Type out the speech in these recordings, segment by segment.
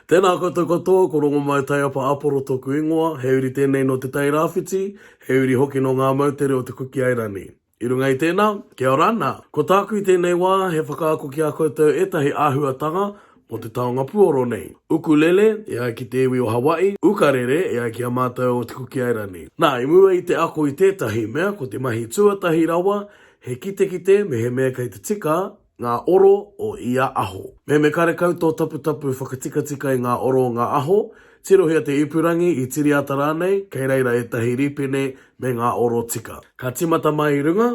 Tēnā koutou katoa, ko Rongomai Taiapa Aporo tōku ingoa, he uri tēnei nō Te Tai Rāwhiti, he uri hoki nō ngā moutere o Te Kuki Airani. I runga i tēnā, kia ora, nā, ko tāku i tēnei wā, he whakaako ki a koutou ētahi āhuatanga mō te taonga puoro nei. Ukulele, e ai ki te iwi o Hawaii, ukarere, e ai ki a mātou o Te Kuki Airani. Nā, i mua i te ako i tētahi mea, ko te mahi tuatahi rawa, he kitekite mehemea kei te tika, ngā oro o ia aho. Me me karekau tō taputapu whakatikatika i ngā oro o ngā aho, tirohia te ipurangi, i tiriata rānei, kei reira ētahi rīpene me ngā oro tika. Ka tīmata mai i runga,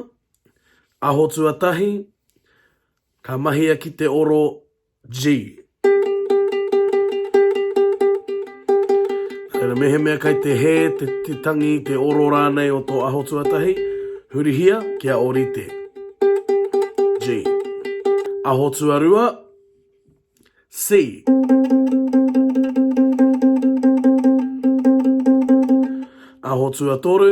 aho tuatahi, ka mahia ki te oro G. Reira, mehemea kei te hē, te, te tangi, te oro rānei o tō aho tuatahi, hurihia kia orite. G. Aho tuarua, C. Aho tuatoru,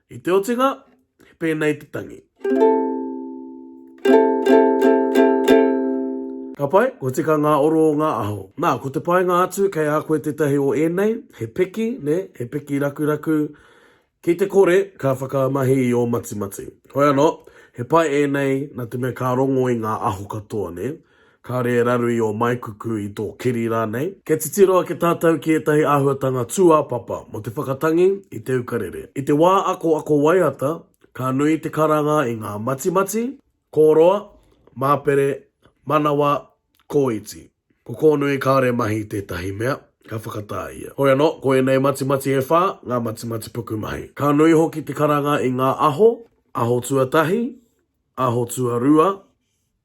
I te otinga, he pēnei te tangi. Ka pai, kua tika ngā oro o ngā aho. Nā, ko te painga atu, kei a koe tētahi o ēnei, he piki, nē, he piki rakuraku, ki te kore, ka whakamahi i ō matimati. Hoi anō, he pai ēnei, nā te mea ka rongo i ngā aho katoa, nē. Kāre e raru i ō maikuku, i tō kiri rānei. Kia titiro ake tātou ki ētahi āhuatanga tūāpapa mō te whakatangi i te ukarere. I te wā ako ako waiata, ka nui te karanga i ngā matimati, kōroa, māpere, manawa, kōiti. Ko Kōnui kāore mahi i tētahi mea, ka whakatā ia. Hoi anō, ko ēnei matimati e whā, ngā matimati pukumahi. Ka nui hoki te karanga i ngā aho, aho tuatahi, aho tuarua,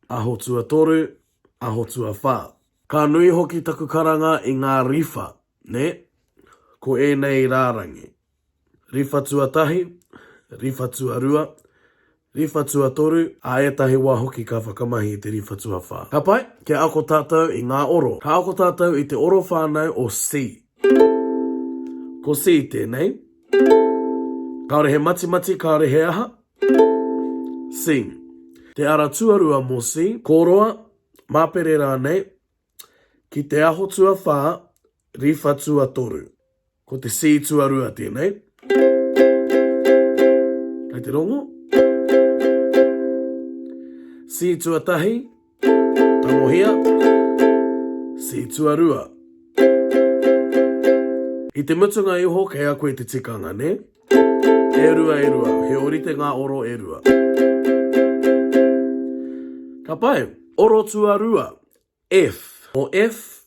Aho tuatoru, aho tuawha. Ka nui hoki taku karanga i ngā riwha, nē? Ko ēnei rārangi. Riwha tuatahi, riwha tuarua, riwha tuatoru, ā ētahi wā hoki ka whakamahi i te riwha tuawha. Ka pai, kia ako tātou i ngā oro. Ka ako tātou i te oro whānau o C. Ko C tēnei. Kāore he matimati, kāore he aha. Sing. Te ara tuarua mō Sing, kōroa, māpere rānei, ki te aho tuawhā, riwha tuatoru. Ko te C tuarua tēnei. Kei te rongo. C tuatahi, Tangohia, See Tuarua. I te mutunga iho kei a koe te tikanga, nē? E rua, e rua, he orite ngā oro e rua. Ka pai, Oro Tuarua, F. Mō F,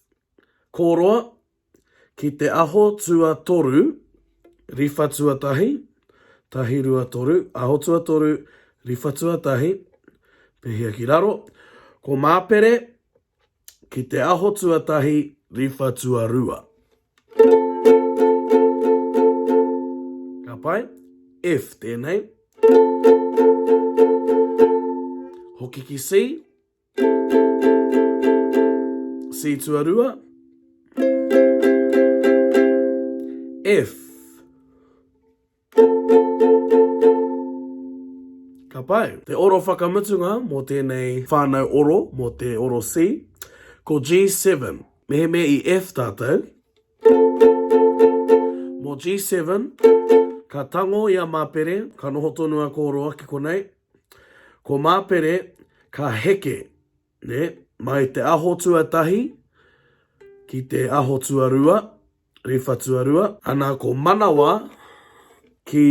Kōroa, ki te aho tuatoru, riwha tuatahi, tahi rua toru, aho tuatoru, riwha tuatahi, pehia ki raro, ko Māpere, ki te aho tuatahi, riwha tuarua. Ka pai, F tēnei. Hoki ki C. C tuarua. F. Ka pai. Te oro whakamutunga mō tēnei whānau oro, mō te oro C, ko G7. Mehemea i F tātou, mō G7, ka tango i a Māpere, ka noho tonu a kōroa ki konei, Ko Mapere ka heke mai te aho tuatahi ki te aho tuarua, riwha tuarua, ana ko Manawa ki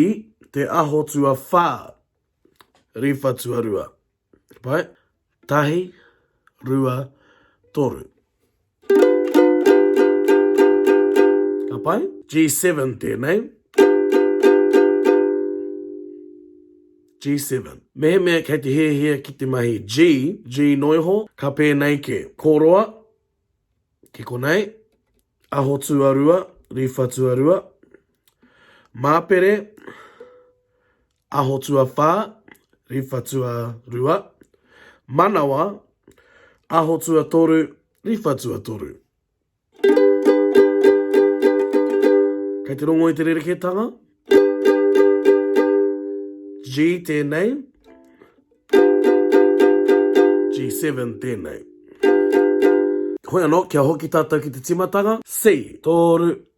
te aho tuawha, riwha tuarua. Tahi, rua, toru. Ka pai? G7 tēnei. G7. Mehemea kei te hiahia ki te mahi G, G noiho, ka pēnei ke. Koroa, ki konei, aho tuarua, riwha tuarua, māpere, Aho tuawhā, riwha tuarua, manawa, aho tuatoru, riwha tuatoru. Kei te rongo i te rerekētanga. G tēnei. G7 tēnei. Hoi anō, kia hoki tātou ki te tīmatanga. C. Tōru.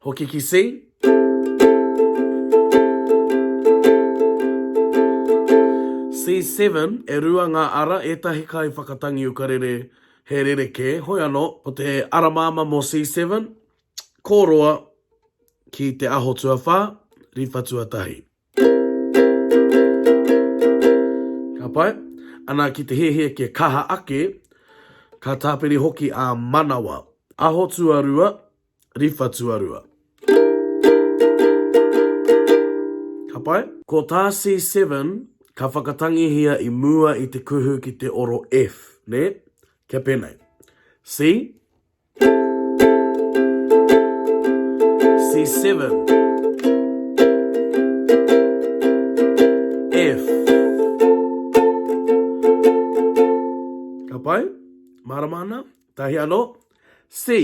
Hoki ki C. C7, e rua ngā ara, ētahi kai whakatangi ukarere, he rerekē, hoi anō, ko te ara māmā mō C7, ko roa ki te aho tuawhā, riwha tuatahi. Ka pai? Ana ki te hiahia kia kaha ake, ka tāpiri hoki a manawa. Aho tuarua, riwha tuarua. Ka pai? Ko tā C7, ka whakatangihia i mua i te kuhu ki te oro F, nē? Kia pēnei. C. C7. F. Ka pai? Mārama ana? Tahi anō? C.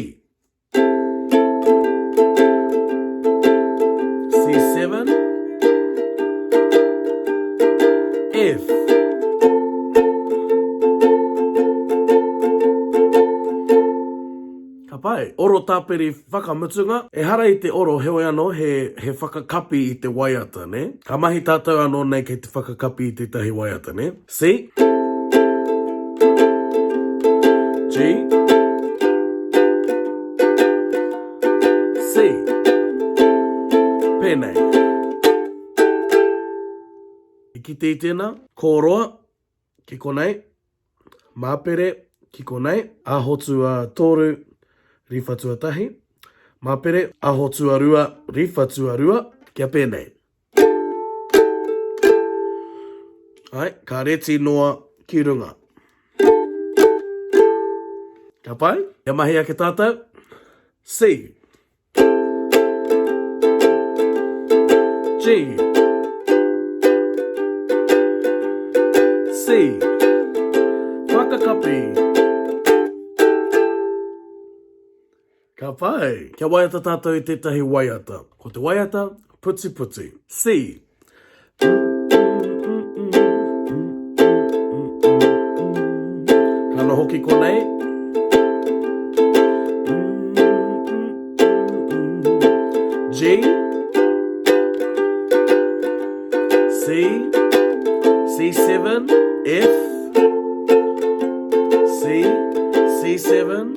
Oro tapere whakamutunga, ehara i te oro heoi ano he he whakakapi i te waiata ne. Ka mahi tatou ano nei kei te whakakapi i tetahi waiata ne. C G C Pēnei I kite i tēnā Kōroa ki konei Māpere ki konei Aho tuatoru Riwha tuatahi Māpere Aho tuarua Riwha tuarua Kia pēnei Ai, ka reti noa ki runga. Ka pai? Kia mahi ake tātou. C. G. C. Whakakapi. Whakakapi. Ka pai! Kia waiata tātou i tētahi waiata. Ko te waiata, putiputi. See. Ka noho ki konei. G. C. C7. F. C. C7.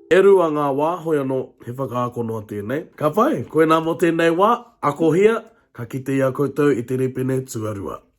E rua ngā wā, hoi anō, he whakaako noa tēnei. Ka pai, koinā mō tēnei wā, akohia, ka kite i a koutou i te rīpene tuarua.